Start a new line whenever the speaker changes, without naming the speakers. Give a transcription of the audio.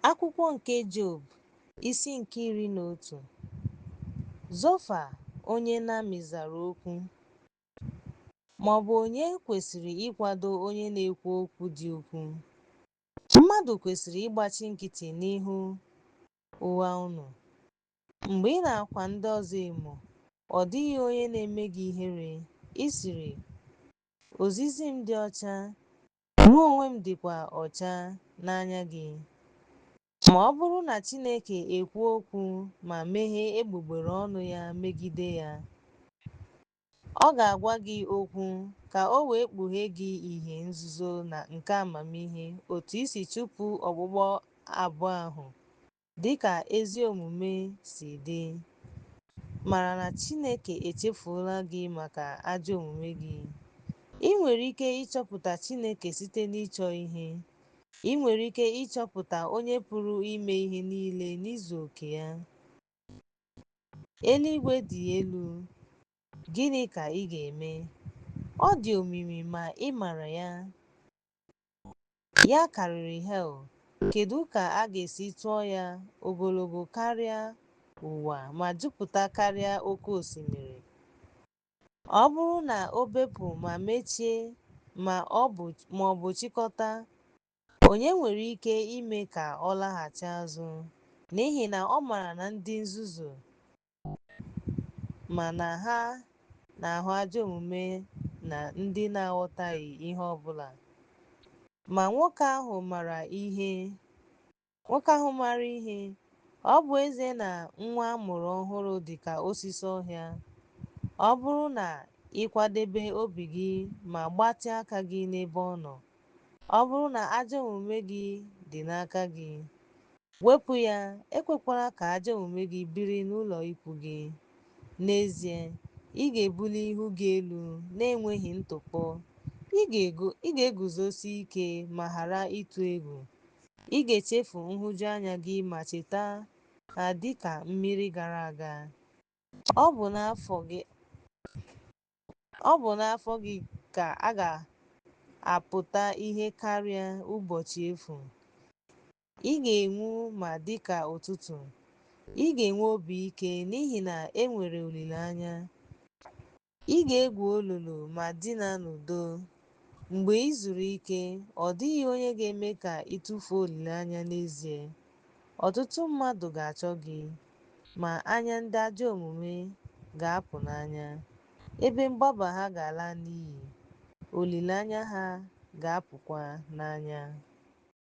Akwụkwọ nke Job, isi nke iri na otu. Zofa onye Nami zara okwu, ma ọ bụ onye kwesịrị ịkwado onye na-ekwu okwu dị ukwuu? Mmadụ kwesịrị ịgbachi nkịtị n'ihu ụgha unu. Mgbe ị na-akwa ndị ọzọ emo, ọ dịghị onye na-eme gị ihere, ị sịrị, Ozizi m dị ọcha, Mụ onwe m dịkwa ọcha n'anya gị. Ma ọ bụrụ na Chineke ekwuo okwu ma meghee egbugbere ọnụ ya megide ya, ọ ga-agwa gị okwu ka o wee kpughee gị ihe nzuzo na nke amamihe otu i si chụpụ okpukpu abụọ ahụ dị ka ezi omume si dị. Mara na Chineke echefuola gị maka ajọ omume gị. I nwere ike ịchọpụta Chineke site n'ịchọ ihe. I nwere ike ịchọpụta Onye Pụrụ Ime Ihe Niile n'izu oke ya. Eluigwe dị elu. Gịnị ka ị ga-eme? Ọ dị omimi ma ị mara ya. Ya karịrị hel, kedụ ka a ga-esi tụọ ya ogologo karịa ụwa ma jupụta karịa oke osimiri? Ọ bụrụ na o bepụ ma mechie ma ọ bụ chịkọta, onye nwere ike ime ka ọ laghachi azụ? N'ihi na ọ mara na ndị nzuzu Mana ha na-ahụ ajọ omume na ndị na-aghọtaghị ihe ọ bụla. Ma nwoke ahụ mara ihe. Nwoke ahụ mara ihe. Ọ bụ ezie na nwa a mụrụ ọhụrụ dị ka osisi ọhịa, ọ bụrụ na ị kwadebe obi gị ma gbatịa aka gị n'ebe ọ nọ, Ọ bụrụ na ajọ omume gị dị n'aka gị, wepụ ya, ekwekwala ka ajọ omume gị biri n'ụlọ ikwu gị. N'ezie, ị ga-ebuli ihu gị elu na-enweghị ntụpọ, ị ga-ego, ị ga-eguzosi ike ma ghara ịtụ egwu. Ị ga-echefu nhụjuanya gị ma cheta ha dị ka mmiri gara aga. Ọ bụ n'afọ gị. Ọ bụ n'afọ gị ka a ga-apụta ihe karịa ụbọchị efu. Ị ga-enwu ma dị ka ụtụtụ. Ị ga-enwe obi ike n'ihi na e nwere olileanya. Ị ga-egwu olulu ma dina n'udo. Mgbe i zuru ike, ọ dịghị onye ga-eme ka ị tụfuo olileanya n'ezie. Ọtụtụ mmadụ ga-achọ gị, ma anya ndị ajọ omume ga-apụ n'anya, ebe mgbaba ha ga-ala n'iyi, olileanya ha ga-apụkwa n'anya.